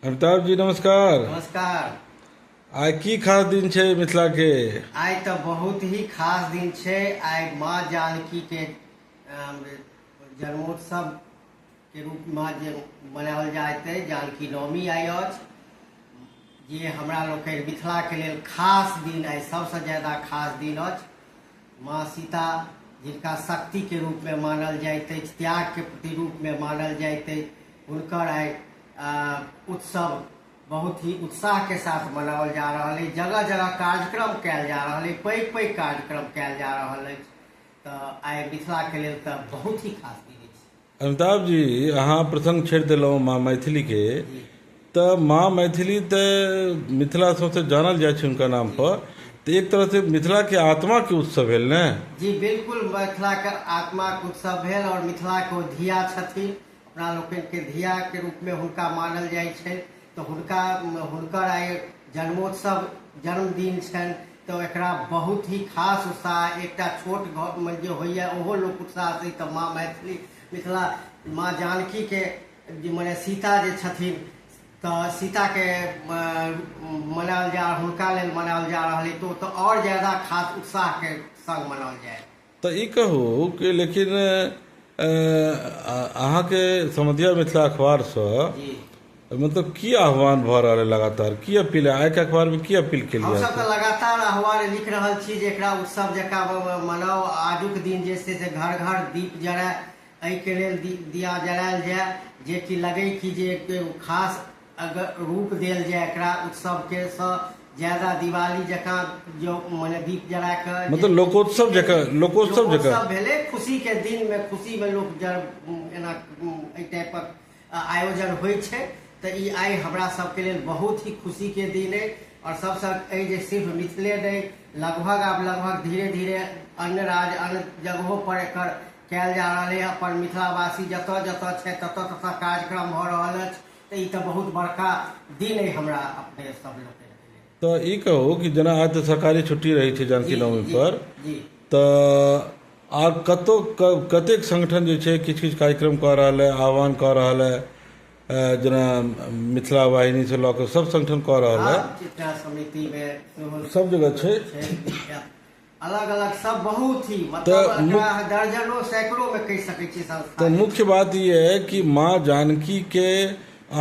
अमिताभ जी नमस्कार नमस्कार आइ की खास दिन छै मिथिला के आइ तऽ बहुत ही खास दिन छै आइ माँ जानकी के अम, जन्मोत्सव के रूप मे जे मनाओल जाइत अछि जानकी नवमी आइ अछि जे हमरा लोकनि मिथिला के लेल खास दिन आइ सबसँ ज्यादा खास दिन अछि माँ सीता जिनका शक्तिके रूपमे मानल जाइत अछि त्यागके प्रतिरूपमे मानल जाइत अछि हुनकर आइ उत्सव बहुत ही उत्साहके साथ मनाओल जा रहल अछि जगह जगह कार्यक्रम कयल जा रहल अछि पैघ पैघ कार्यक्रम कयल जा रहल अछि तऽ आइ मिथिलाके लेल तऽ बहुत ही खास दिन अछि अमिताभ जी अहाँ प्रसङ्ग छेड़ि देलहुँ माँ मैथिलीके तऽ माँ मैथिली तऽ मिथिला सौँसे जानल जाइ छै हुनका नामपर तऽ एक तरहसँ मिथिलाके आत्माके उत्सव भेल ने जी बिल्कुल मिथिलाके आत्माके उत्सव भेल आओर मिथिलाके ओ धिया छथिन अपना लोकनिके धियाके रूपमे हुनका मानल जाइ छै तऽ हुनका हुनकर आइ जन्मोत्सव जन्मदिन छनि तऽ एकरा बहुत ही खास उत्साह एकटा छोट घरमे जे होइए ओहो लोक उत्साह से तऽ माँ मैथिली मिथिला माँ जानकीके जे मने सीता जे छथिन तऽ सीताके मनायल जा हुनका लेल मनायल जा रहल अइ तऽ ओ तऽ आओर ज्यादा खास उत्साहके संग मनायल जाय तऽ ई कहु कि लेकिन अहाँके समधिया मिथिला अखबारसँ मतलब की आह्वान भऽ रहल है लगातार की अपील है आइके अखबारमे की अपील केलियै हमसभ तऽ लगातार आह्वान लिख रहल छी जे एकरा उत्सव जकाँ मनाउ आजुक दिन जे छै से घर घर दीप जराय एहिके लेल दिया जरायल जाय जेकि लगै कि जे खास अगर रूप देल जाय एकरा उत्सव के सँ ज्यादा दिवाली जकाँ जो मने दीप जरा के मतलब लोकोत्सव जकाँ लोकोत्सव जकाँ लोकोत्सव भेलै खुशी के दिन में खुशी में लोक जर एना एहि टाइपक अ, आयोजन होइ छै तऽ ई आइ हमरा सबके लेल बहुत ही खुशी के दिन अइ और सबसँ अइ जे सिर्फ मिथिले नहि लगभग आब लगभग धीरे धीरे अन्य राज्य अन्य जगहो पर एकर कयल जा रहल अइ अपन मिथिलावासी जतऽ जतऽ छै ततऽ ततऽ कार्यक्रम भऽ रहल अछि तऽ ई तऽ बहुत बड़का दिन अइ हमरा अपने सब लोकके तऽ ई कहू कि जेना आज तऽ सरकारी छुट्टी रहै छै जानकी नवमी पर जी तऽ आब कतौ क- कतेक संगठन जे छै किछु किछु कार्यक्रम कऽ रहल है आह्वान कऽ रहल है अ, जेना मिथिला वाहिनी से लऽ कऽ सब संगठन कऽ रहल है आब चित्रा समितिमे सेहो सब जगह छै छै विख्यात अलग अलग सब बहुत ही मतलब तऽ एकरा मु- अहाँ दर्जनो सैकड़ो में कह सकै छियै तऽ संस्था मुख्य बात ई है कि माँ जानकी के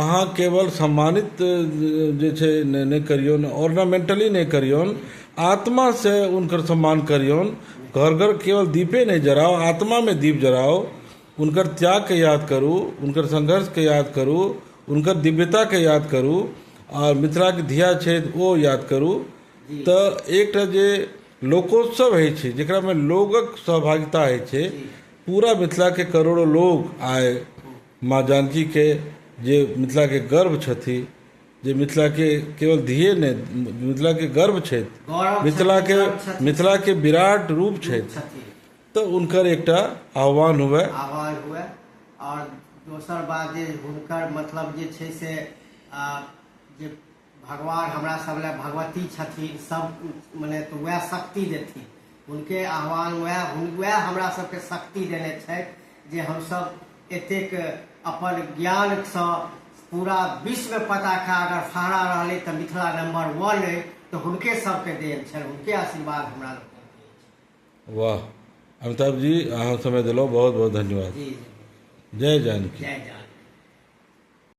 अहाँ केवल सम्मानित अ, जे छै ने- नहि करियौन ऑर्नामेंटली नहि करियौन आत्मा से उनकर सम्मान करियौन घर घर केवल दीपे नहि जराओ आत्मा में दीप जराओ उनकर त्याग के याद करू उनकर संघर्ष के याद करू उनकर दिव्यता के याद करू और मिथिला के धिया छथि ओ याद करू तऽ एकटा जे लोकोत्सव होइ छै जकरामे लोकके सहभागिता होइ छै पूरा मिथिलाके करोड़ो लोक आइ माँ जानकीके जे मिथिलाके गर्व छथि जे मिथिलाके केवल धिए नहि मिथिलाके गर्व छथि मिथिलाके मिथिलाके विराट रूप छथि तऽ हुनकर एकटा आह्वान हुअए आह्वान हुअए आओर दोसर बात जे हुनकर मतलब जे छै से जे भगवान हमरा सब लए भगवती छथिन सब मने तऽ वएह शक्ति देथिन हुनके आह्वान वएह वएह हमरा सबके शक्ति देने छथि जे हमसब एतेक अपन ज्ञानसँ पूरा विश्व पताका अगर फहरा रहलै तऽ मिथिला नंबर वन अइ तऽ हुनके सबके देन छनि हुनके आशीर्वाद हमरा लोकनि वाह अमिताभ जी अहाँ समय देलहुँ बहुत बहुत धन्यवाद जी जी जय जानकी जय जानकी